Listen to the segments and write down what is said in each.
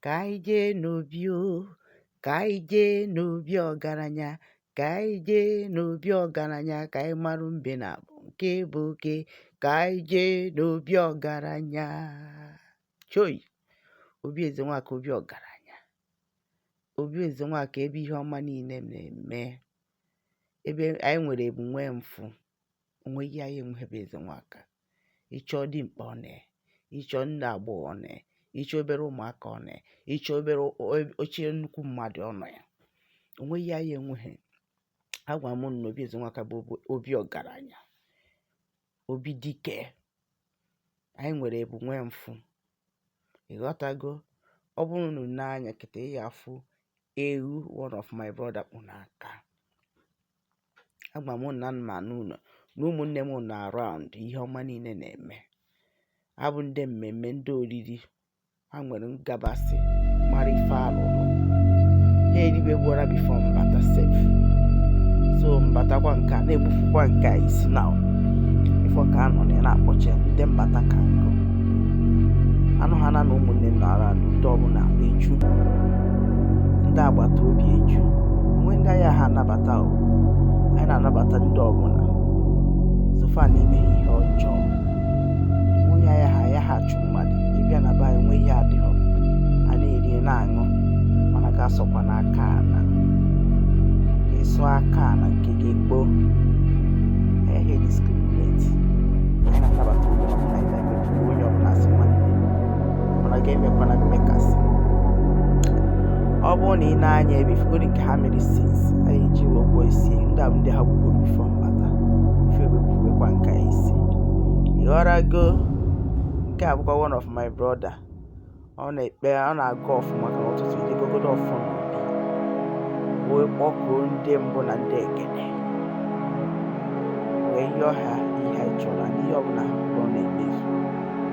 ka anyị jee n'obi o ka anyị jee n'obi ọgaranya ka anyị jee n'obi ọgaranya ka anyị marụ mbe naabọ nke bụ oke ka anyị jee n'obi ọgaranya choi obi Ezenwaka obi ọgaranya obi Ezenwaka ebe ihe ọma niile na-eme ebe anyị nwere ebu nwee mfụ onweghị ihe anyị enweghị be Ezenwaka ịchọ dimkpa ọ nọ ịchọ ndị agbọghọ ọ nọ ịchọ obere ụmụaka ọ nọ ịchọ obere ochie nnukwu mmadụ ọ nọ ya onweghị ihe anyị enweghị agwa m unu na obi Ezenwaka bụ obi ọgaranya obi dike anyị nwere ebu nwee mfụ ịghọtago ọ bụrụ na i nee anya kịta ị ya-afụ ewu one of my brother kpụ n'aka agwa m na m nọ ụlọ na ụmụnne m nọ around ihe ọma niile na-eme abụ ndị mmemme ndị oriri ha nwere ngabasị mara ife alụrụ ha eribegoro bifo m bata sef so m batakwa nke a na-egbufukwa nke a isi na ị fụ ka a nọ na na-akpọchi ndị mbata ka nkụ anụ ha na na ụmụnne m nọ around ndị ọbụla eju ndị agbata obi eju onwe ndị anyị aha anabata na-anabata o anyị na-anabata ndị ọbụla so far na i meghị ihe ọjọọ onye ya ha ya ha achụ mmadụ ị bịa na be anyị nwe ihe adịghọ a na-eri na-aṅụ mana gị asọkwana aka ana ị sọ aka ana nke gị kpoo ehe discriminate anyị na-anabata onye ọbụla mana gị emekwana mmekasị ọ bụrụ na i nee anya ebe ị fụgodi nke ha mere since anyị ji wee gwọọ isi ndị a bụ ndị ha gbugoro bifo m bata ife wepụwekwa nke a isi ịghọrago nke a bụkwa one of my brother ọ na-ekpe ọ na-agọ ọfọ maka ụtụtụ e jee gọgodo ọfọ n'obi wee kpọkuo ndị mbụ na ndị egede wee yọọ ha ihe anyị chọrọ na ihe ọbụla ha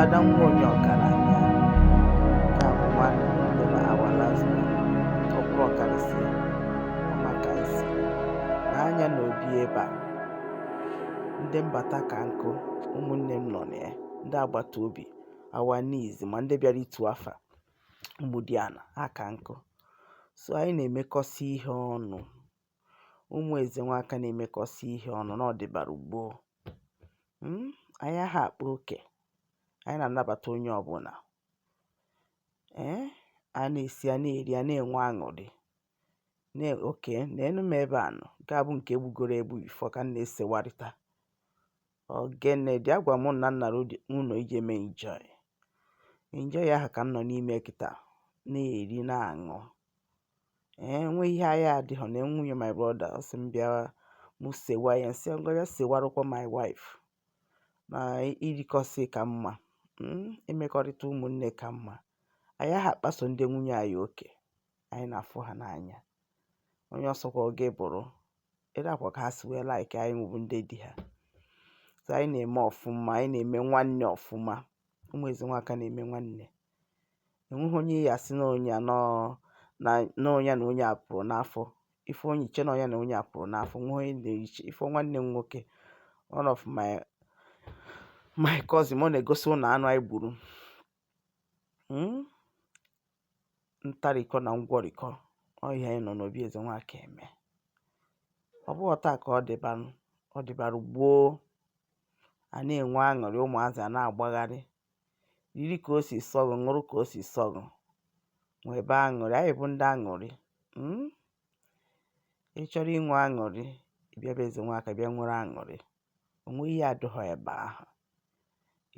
Ada nwa onye ọgaranya nke a bụ nwanne nne na our last born ọkwa ọkarịsị ọmaka isi na anya na obi ebe a ndị mbata ka nkụ ụmụnne m nọ na ya ndị agbata obi awa niizi ma ndị bịara itu afa Ụmụdiana aka nkụ so anyị na-emekọsị ihe ọnụ ụmụ Ezenwaka na-emekọsị ihe ọnụ na ọ dịbara gboo hmm? anyị aha akpa oke anyị na-anabata onye ọbụla ee eh? a na-esi a na-eri a na-enwe aṅụrị okay neenụ m ebe anụ nke a bụ nke egbugoro egbu before ka m na-esewarịta Ogene dị agwa m na m nara ụlọ ije mee enjoy. Enjoy ahụ ka m nọ n'ime kịta na-eri na-aṅụ. Ee, nwe ihe anyị adịghọ nee nwunye my brother ọ sị m bịa mụ sewa ya m sị ngwa bịa sewarụkwa my wife na irikọsị ka mma mm, imekọrịta ụmụnne ka mma anyị aha akpaso ndị nwunye anyị oke anyị na-afụ ha n'anya onye ọ sọkwa gị bụrụ etu a kwa ka ha si wee like anyị nwa bụ ndị di ha so anyị na-eme ọfụma anyị na-eme nwanne ọfụma ụmụ Ezenwaka na-eme nwanne enweghị onye ị ya-asị na onye na onye na onye a pụrụ n'afọ ife onye iche na onye na onye a pụrụ n'afọ nwe onye na-eche ife nwanne m nwoke one of my my cousin ọ na-egosi unu anụ anyị gburu hmm? ntarikọ na ngwọrịkọ ọ ihe anyị nọ n'obi Ezenwaka eme ọ bụghọ taa ka ọ dịbara ọ dịbara gboo a na-enwe aṅụrị ụmụazị a na-agbagharị riri ka o si sọ gụ ṅụrụ ka o si sọ gụ nwebe aṅụrị anyị bụ ndị aṅụrị hmm? ị chọrọ inwe aṅụrị bịa be Ezenwaka bịa nwere aṅụrị o nwe ihe adịghọ ebe ahụ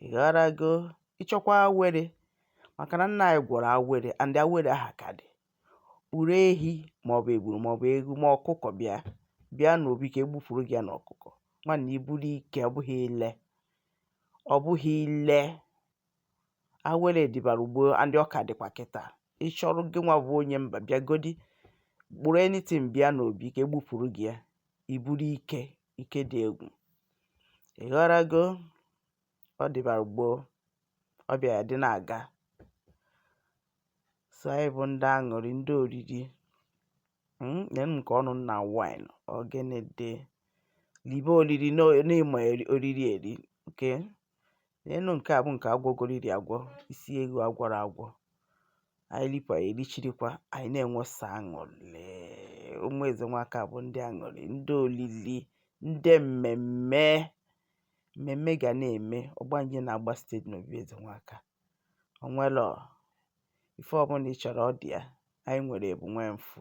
ị ghọrago ị chọkwa awere maka na nna anyị gwọrọ awere and awere aha ka dị kpụrụ ehi maọbụ eburu maọbụ eghu ma ọkụkọ bịa bịa n'obi ka egbufuru gị ya na ọkụkọ nwanne i buru ike ọ bụghị ile ọ bụghị ile awere dịbara gboo and ọ ka dịkwa kịta ị chọrọ gị nwa bụ onye mba bịagodi kpụrụ anything bịa n'obi ka egbufuru gị ya i buru ike ike dị egwu ị ghọrago ọ dịbara gboo ọ bịa ya dị na-aga so anyị bụ ndị aṅụrị ndị oriri hmm, neenụ nke ọnụ na wine ogene dị libe oriri na ị ma oriri eri okay Neenụ nke a bụ nke agwọgoriri agwọ isi eghu agwọrọ agwọ anyị rikwa ya erichirikwa anyị na-enwesa aṅụrị ụmụ Ezenwaka bụ ndị aṅụrị ndị olili ndị mmemme mmemme ga na-eme ọgbanje na-agba steady n'obi Ezenwaka o nwere ife ọbụla ị chọrọ ọ dị ya anyị nwere ebu nwee mfụ